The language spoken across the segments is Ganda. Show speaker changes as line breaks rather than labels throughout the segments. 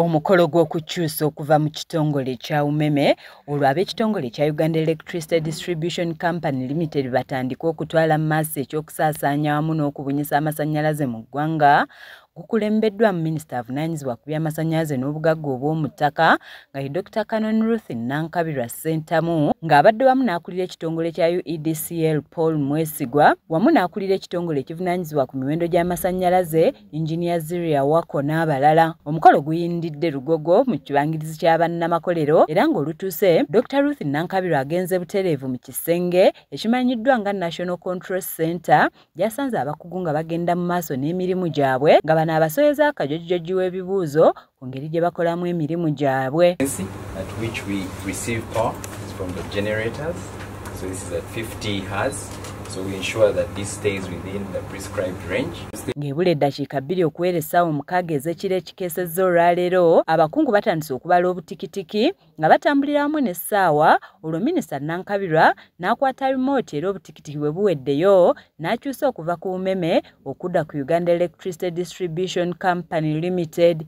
Omukolo gw'okukyusa okuva mu kitongole kya umeme olwo ab'ekitongole kya Uganda Electricity Distribution Company Limited batandika okutwala mu maaso eky'okusaasaanya wamu n'okubunyisa amasannyalaze mu ggwanga gukulembeddwamu minisita avunaanyizibwa ku by'amasannyalaze n'obugagga obw'omu ttaka nga ye Dr Canon Ruth Nankabirwa Ssentamu ng'abadde wamu n'akulira ekitongole kya UEDCL Paul Mwesigwa wamu n'akulira ekitongole ekivunaanyizibwa ku miwendo gy'amasannyalaze Engineer Ziria Wako n'abalala. Omukolo guyindidde Lugogo mu kibangirizi kya bannamakolero era ng'olutuuse Dr Ruth Nankabirwa agenze butereevu mu kisenge ekimanyiddwa nga National Control Center gyasanze abakugu nga bagenda mu maaso n'emirimu gyabwe nga bano abasoyeza akajojjoji w'ebibuuzo ku ngeri gye bakolamu emirimu gyabwe So
this is at 50 hertz. So we ensure that this stays within the prescribed range. Ngebule eddakiika
bbiri okuweera essaawa omukaaga ez'ekiro ekikeesezza olwaleero abakungu batandise okubala obutikitiki nga batambulira wamu n'essaawa olwo minisita Nankabirwa n'akwata remote era obutikitiki bwe buweddeyo n'akyusa okuva ku umeme okudda ku Uganda Electricity Distribution Company Limited.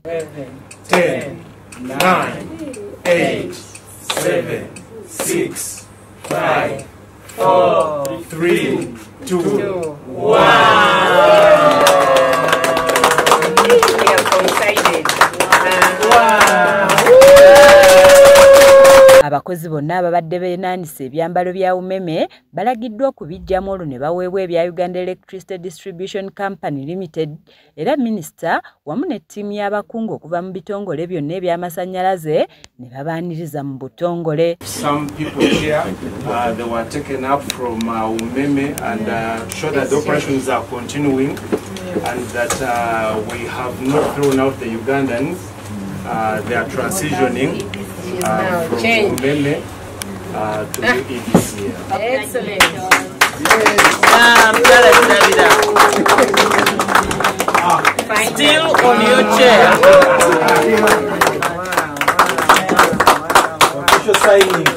Abakozi bonna ababadde beenaanise ebyambalo bya umeme balagiddwa okubiggyamu olwo ne baweebwa ebya Uganda Electricity Distribution Company Limited era minisita wamu ne ttiimu y'abakungu okuva mu bitongole byonna eby'amasannyalaze ne babaaniriza mu butongole
and that uh, we have not thrown out the Ugandans. Uh, they are transitioning uh, from Umeme Uh, to
you in this year. Excellent.
Ah, Still on your chair.
Official signing.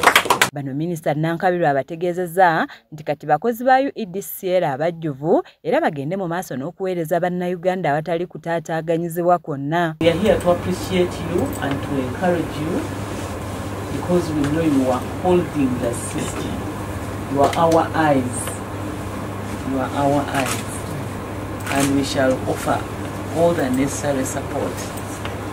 Bano minisita Nankabirwa abategeezezza nti kati bakozi ba UEDCL abajjuvu era bagende mu maaso n'okuweereza bannayuganda awatali kutaataaganyizibwa kwonna because
we know you are holding the system you are our eyes you are our eyes and we shall offer all the necessary support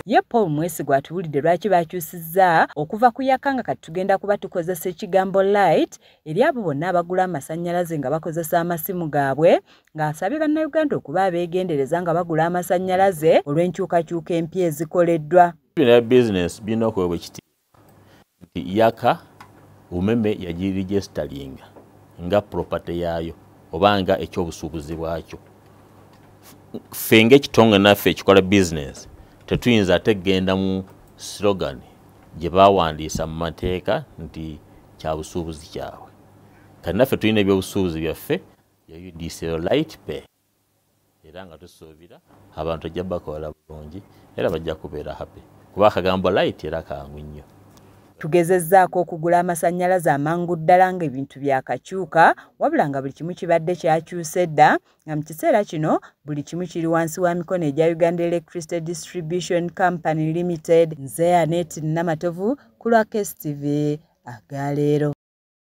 ye
paul mwesigwa atuwulidde lwaki bakyusizza okuva ku yaka nga kati tugenda kuba tukozesa ekigambo light eri abo bonna abagula amasannyalaze nga bakozesa amasimu gaabwe ng'asabye bannayuganda okuba abeegendereza nga bagula amasannyalaze olw'enkyukakyuka empya ezikoleddwa bya bizinesi
birina okuweebwa ekitiibwa nti yaka umeme yagirijesitalinga nga propate yaayo oba nga ekyobusuubuzi bwakyo ffe ngaekitongole naffe ekikola bizinesi tetuyinza ate kugenda mu slogan gye bawandiisa mu mateeka nti kya busuubuzi kyabwe kati naffe tulina ebyobusuubuzi byaffe ya udc light pay era nga tusuubira abantu ajja bakola bulungi era bajja kubeera happy kuba akagambo light era kangu nnyo tugezezzaako
okugula amasannyalaze amangu ddala ng'ebintu byakakyuka wabula nga buli kimu kibadde kyakyuse dda nga mu kiseera kino buli kimu kiri wansi wa mikono egya uganda electricity distribution company limited nzeanet namatovu ku lwa kstv agaleero